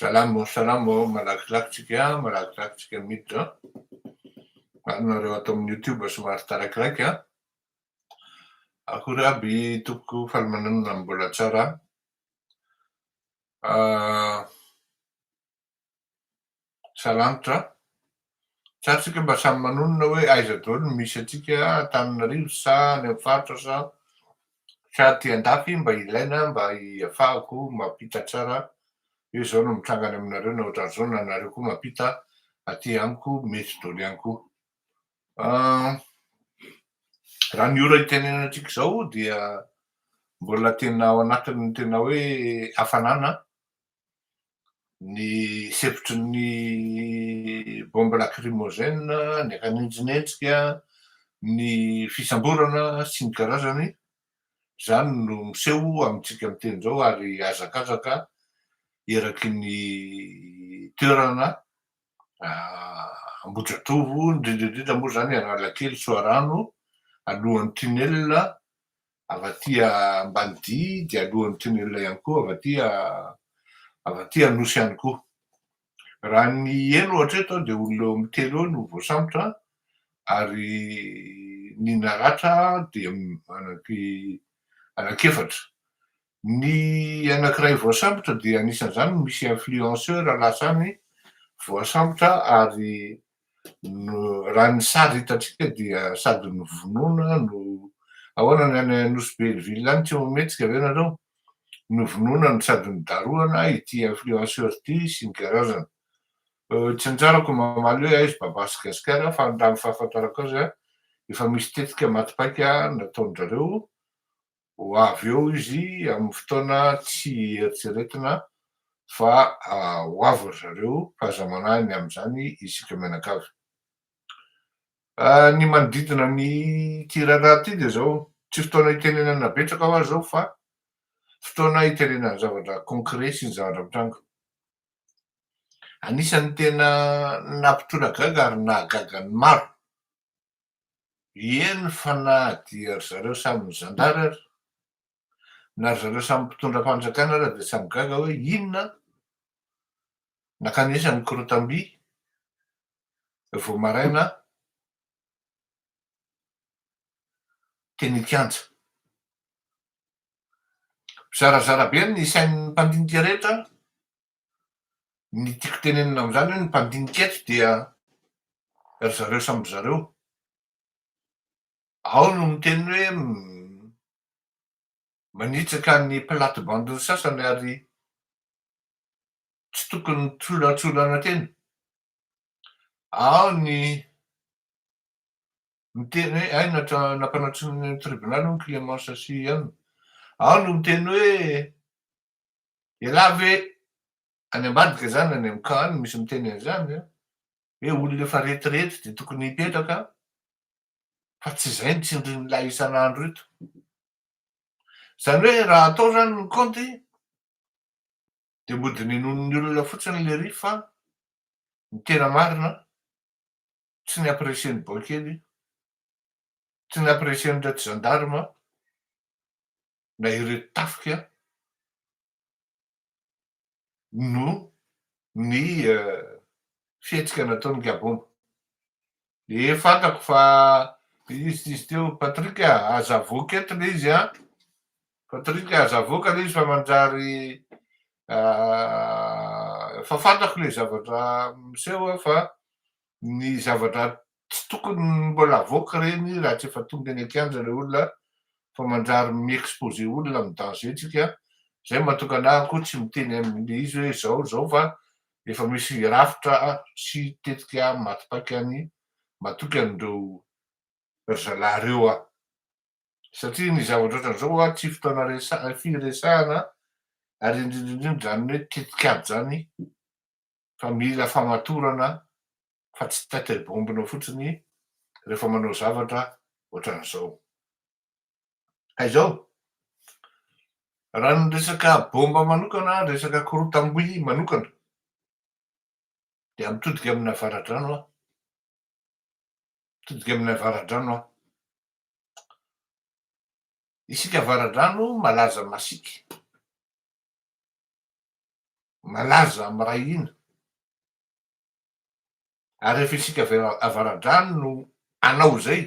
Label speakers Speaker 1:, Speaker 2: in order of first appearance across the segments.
Speaker 1: Salamo salamo ao malakilaky tsika malakilaky tsika miditra ary nareo ato amin'ny youtube somary tarakiraiky a akory aby topoko faly mananona mbola tsara ah, Salanitra a! Sa tsika mba samy manonona hoe aiza daoly no misy antsika Antananarivo sa any amin'ny faritra sa sa aty andafy mba ilaina mba hiafahako mampita tsara hoe zao no mitranga any aminareo na otran'zao na nareo koa mampita aty amiko mety daoly ihany koa ah, raha ny ora itenenantsika zao dia mbola tena ao anatin'ny tena hoe hafanana ny hevitry ny bombe lacrymogène, ny haninjinenjika, ny fisamborana sy ny karazany, izany no miseho amintsika miteny izao ary hazakazaka eraky ny toerana Ambohidratovo, indrindra indrindra moa izany Analakely, Soarano, alohan'ny tunnel avy aty Ambanidia dia alohan'ny tunnel ihany koa avy aty avy aty Anosy ihany koa. Raha ny eny ohatra eto dia olona eo amin'ny telo eo no voasambotra ary ny naratra dia anaky anaky efatra. Ny anankiray voasambotra dia anisan'izany ny misy influenceur lasany voasambotra ary raha ny sary hitantsika dia sady novonoina no ahoana ny any Nosy be ny ville any tsy mametsika ve nareo? novonoina no sady nodarohana ity influenceur ity sy ny karazany tsy nitsarako mamaly hoe aiz baba sy gasikara fa raha ny fahafantarako azy efa misy tetika maty paika nataon-drareo ho avy eo izy amin'ny fotoana tsy eritreretina fa ho avy ry zareo fa aza manahy ny amin'izany isika mianakavy. Ny manodidina an'ity raharaha ity dia izao, tsy fotoana hitenenana betsaka ho azy izao fa fotoana hitenenana zavatra concret sy zavatra mitranga. Anisan'ny tena nampitora gaga ary nahagaga ny maro Eny fa na dia ry zareo samy zandary ary, na ry zareo samy mpitondram-panjakana ary dia samy gaga hoe inona nakanesa ny korotam-by vao maraina teny an-kianja. Zarazara be ny sain'ny mpandinika rehetra Ny tiako tenenina amin'izany hoe ny mpandinika eto dia ry zareo samy ry zareo. Ao no miteny hoe manitsaka ny plate-bande-ny sasany ary tsy tokony mitsolatsolana tena. Ao ny miteny hoe hay nampanantsoina ny tribonaly hono Clémence sy Anne. Ao no miteny hoe Elah ve any ambadika zany any am camp any misy miteny an'izany an! Hoe olona efa retirety de tokony hipetraka fa tsy zay ny tsindrin'ilay isan'andro eto. Zany hoe raha atao zany ny kaonty de mbo dininoin'ny olona fotsiny lery fa ny tena marina tsy ny apprecien'ny boaikely, tsy ny apprecien'ny reto gendarme, na ireo tafika noho ny fihetsika nataon'i Gabomba. Ee fantako fa izy tsy izy teo Patrick a, aza avoaka eto ilay izy a, Patrick a, aza avoaka ilay izy fa manjary fa fantako ilay zavatra miseho fa ny zavatra tsy tokony mbola avoaka ireny raha tsy efa tonga eny an-kianja ilay olona fa mandrary mi-exposer olona amin'ny danger tsika, izay no mahatonga anah koa tsy miteny amin'ny izy hoe izao izao fa efa misy rafitra sy tetika maty paika any matoky an'ireo ry zalahy ireo aho satria ny zavatra ohatran'izao hoa tsy fotoana resaha firesahana ary indrindra indrindra izany hoe tetik'ady izany. fa mila famatorana fa tsy tête bombe-nao fotsiny rehefa manao zavatra ohatran'izao. Ka izao, raha ny resaka bomba manokana, ny resaka korotam-by manokana dia mitodika amin'ny avaradrano aho, mitodika amin'ny avaradrano aho. Isika avaradrano malaza masiaka. malaza amin'ny ray hina, ary rehefa isika avy avaradrano no hanao izay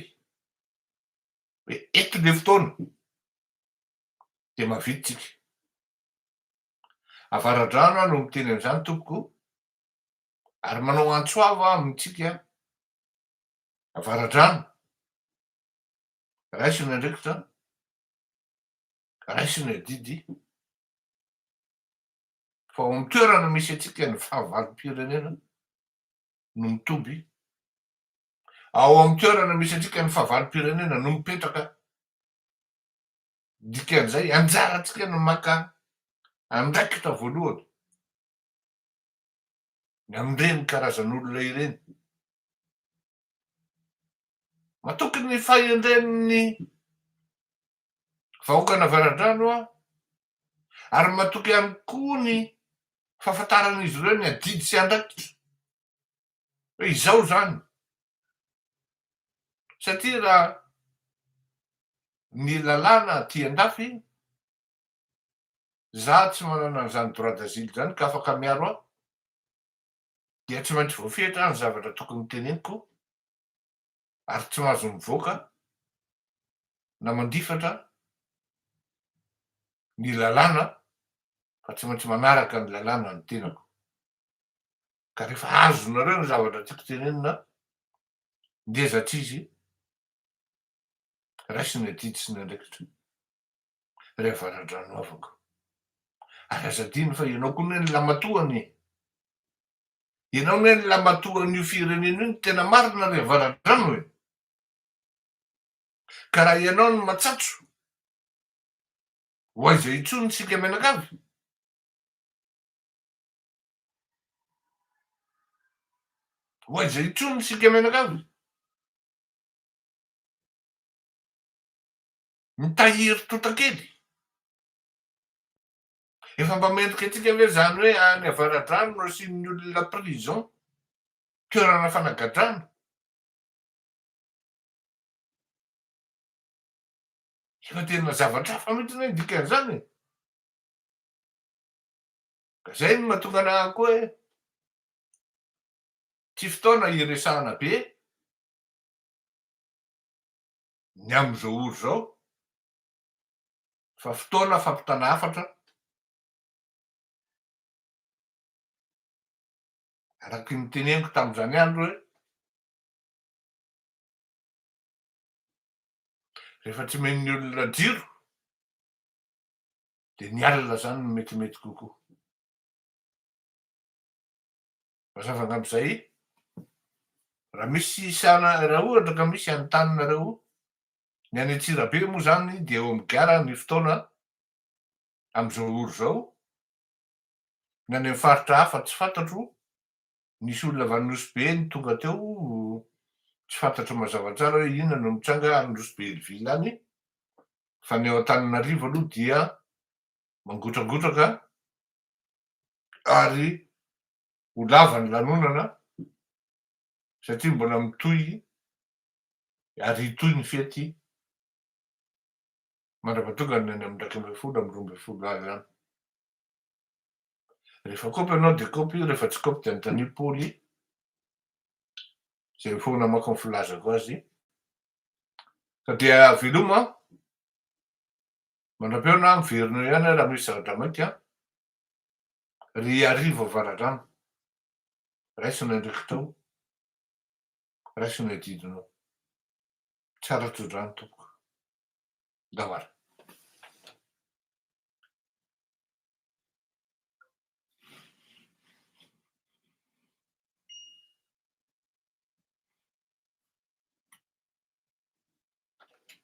Speaker 1: hoe eto ny fotoana dia mahavita isika. Avaradrano aho no miteny an'izany tompoko ary manao antso avo aho amintsika avaradrano, raisina andraikitra, Raiso ny adidy fa ao amin'ny toerana misy antsika ny fahavalom-pirenena no mitoby, ao amin'ny toerana misy antsika ny fahavalom-pirenena no mipetraka. Dikan'izay anjarantsika ny maka andraikitra voalohany ny amin'ireny karazan'olona ireny. Matoky ny fahendren'ny vahoakan'Avaradrano aho ary matoky ihany koa ny fahafantaran'izy ireo ny adidy sy andraikitra hoe izao izany satria raha ny lalàna aty andafy za tsy manana an'izany droit d'asile izany ka afaka miaro ahy dia tsy maintsy voafetra ny zavatra tokony teneniko ary tsy mahazo mivoaka na mandifatra ny lalàna fa tsy maintsy manaraka ny lalàna ny tenako ka rehefa azonareo ny zavatra tiako tenenina dia zatr'izy raisina adidy sy ny andraikitra ry avaradrano havako ary aza adino fa ianao koa anie ny lamatoany Ianao ne ny lamatoan'io firenena io ny tena marina ry avaradrano e! Ka raha ianao no matsatso, ho aiza intsony isika mianakavy? Ho aiza intsony isika mianakavy? Mitahiry totakely. Efa mba mendrika antsika ve izany hoe any avaradrano no asian'ny olona prison, toerana fanagadrana? Efa tena zavatra hafa mihitsy ny dikan'izany e. Ka izay no mahatonga anà koa hoe tsy fotoana hiresahana be ny amin'izao ora izao fa fotoana fampitana hafatra araky ny teneniko tamin'izany andro hoe rehefa tsy omen'ny olona jiro dia ny alina zany no metimety kokoa mazava angamba izay raha misy isana raha ohatra ka misy antaninareo Ny any Antsirabe moa izany dia eo amin'ny gara ny fotoana amin'izao ora izao. Ny any amin'ny faritra hafa tsy fantatro, nisy olona avy any Nosy-Be no tonga teo, tsy fantatro mazava tsara hoe inona no nitranga any Nosy-Be Ilville any, fa ny ao Antananarivo aloha dia mangotragotraka ary ho lava ny lanonana satria mbola mitohy ary hitohy ny fety mandra-pahatongany any amin'ny iraika ambin'ny folo amin'ny roa ambin'ny folo avy any. Rehefa kopy ianao dia kopy io, rehefa tsy kopy dia anontanio Poly izay mifoana manko ny filazako azy ka dia veloma mandrapeo na miverina ihany aho raha misy zavatra maika ry Hariva Avaradrano, raisina indray kitao. Raiso ny adidinao. Tsara tsodrano tompoko. Ndao ary.